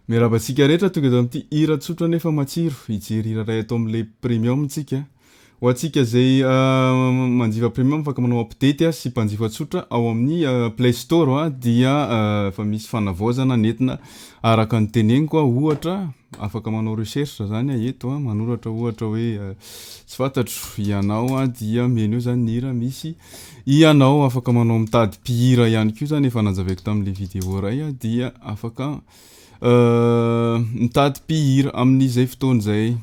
Miarahaba antsika rehetra tonga eto amin'ity hira tsotra nefa matsiro hijery hira ray ato amin'ilay premium tsika. Ho antsika izay uh, manjifa premium afaka manao update uh, sy mpanjifa tsotra ao amin'ny uh, Play Store uh, dia efa uh, misy fanavaozana netina araka ny teneniko uh, ohatra afaka manao recherche zany uh, eto uh, manoratra ohatra hoe uh, tsy fantatro ianao uh, dia menu zany ny hira misy Ianao afaka manao mitady mpihira ihany koa zany efa nanjaveko tamin'ilay vidéo iray aho dia afaka euh, mitady mpihira amin'izay fotoana izay.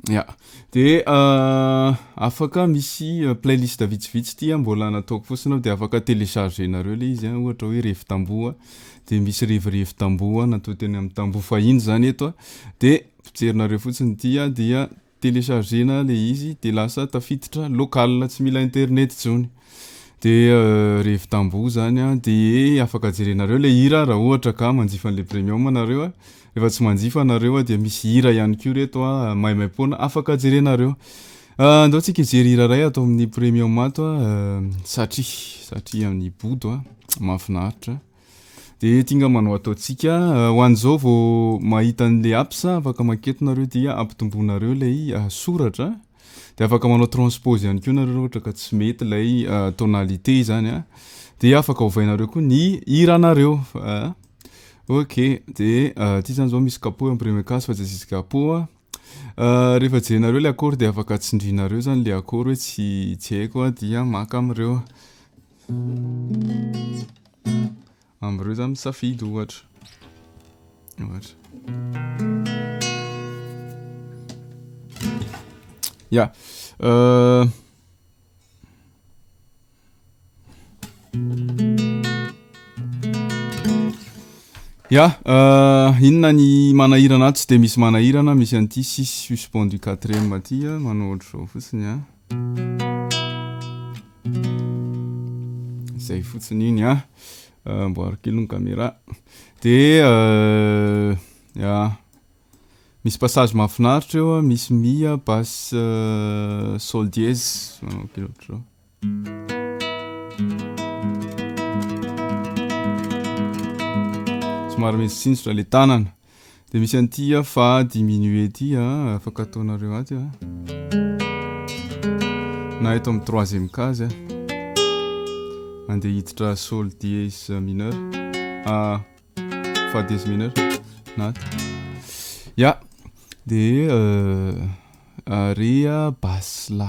Ya. De euh, afaka misy euh, playlist vitsivitsy tia mbola nataoko fotsiny aho de afaka télécharger nareo le izy ohatra hoe revy tamboho de misy revirevy tamboho natao teny amin'ny tamboho fahiny zany eto de potserinareo fotsiny tia dia Telechargena le izy de lasa tafiditra local tsy mila internet tsony de re vitambo zany a de afaka jerenareo le hira ra ohatra ka manjifa anle premium anareo a refa tsy manjifa anareo a dia misy hira ihany ko reto a maimaimpoana afaka jerenareo andao tsika hijery hira ray ato aminy premium ato a satria satria any bodo a mafinaritra. Dia ety nga manao ataontsika, ho an'izao vao mahita an'ilay apps a, afaka maketo nareo dia ampitomboinareo ilay soratra, dia afaka manao transpose ihany koa nareo raha ohatra ka tsy mety ilay tonalité izany a, dia afaka ovainareo koa ny hiranareo a, ok dia ity izany izao misy capot imprimé cas fa tsy asisika capot a, rehefa jerenareo ilay accord dia afaka tsindrinareo izany ilay accord hoe tsy tsy haiko a dia maka amin'ireo. Amin'ireo za misafidy ohatra. Ohatra. Ya. Euh, Ya, euh, inona ny manahirana ato tsy dia misy manahirana, misy an'ity six suspend du quatrième aty, manao ohatr'izao fotsiny an. zay fotsiny iny a ah. mboaro kely ny caméra de euh, ah misy passage mahafinaritra eo misy mia basse euh, sol dièse manao kely ohatr'izao somary misy sinjotra le tanana Dia misy an'ity ah, fa diminuer ity ah, afaka ataonareo aty ah. Na eto amin'ny troisième case ah. Andeha hiditra sol dièse mineur. Ah, fa dièse mineur. Na aty. Ya. Dia euh, area basse la.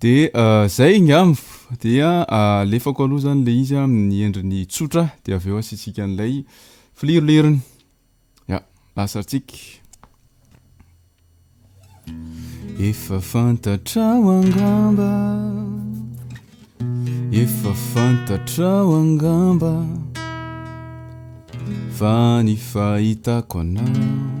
De zay ngamv dia alefako aloha zany le izy amin'ny endriny tsotra de avy eo asiantsika an'ilay filirolirony ya lasantsika efa fantatrao angamba efa fantatrao angamba fa ny fahitako anao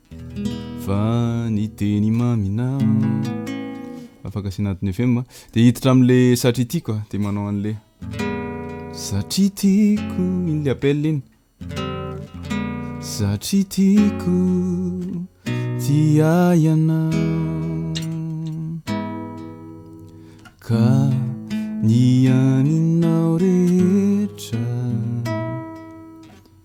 Fa ny teny maminao Afaka asiana antony FM a Dia hiditra amin'le satria tiako a Dia manao an'le Satria tiako Iny le appel iny Satria tiako Ti ahy ianao Ka ny aninao rehetra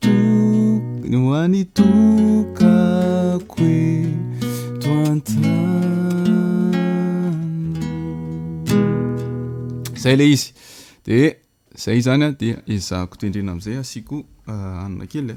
Tokony ho any tokako eto an-tany Zay le izy de zay izany a dia ezahako tendrena am'zay asiako hanina kely a.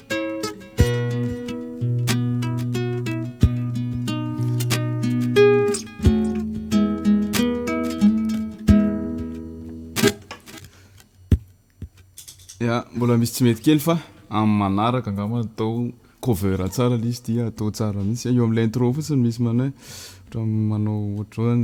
ya mbola misy tsy mety kely fa amin'ny manaraka angamba atao cover tsara le izy dia atao tsara mihitsy eo amin'ilay intro fotsiny misy manao hoe ohatran'ny manao ohatran'ny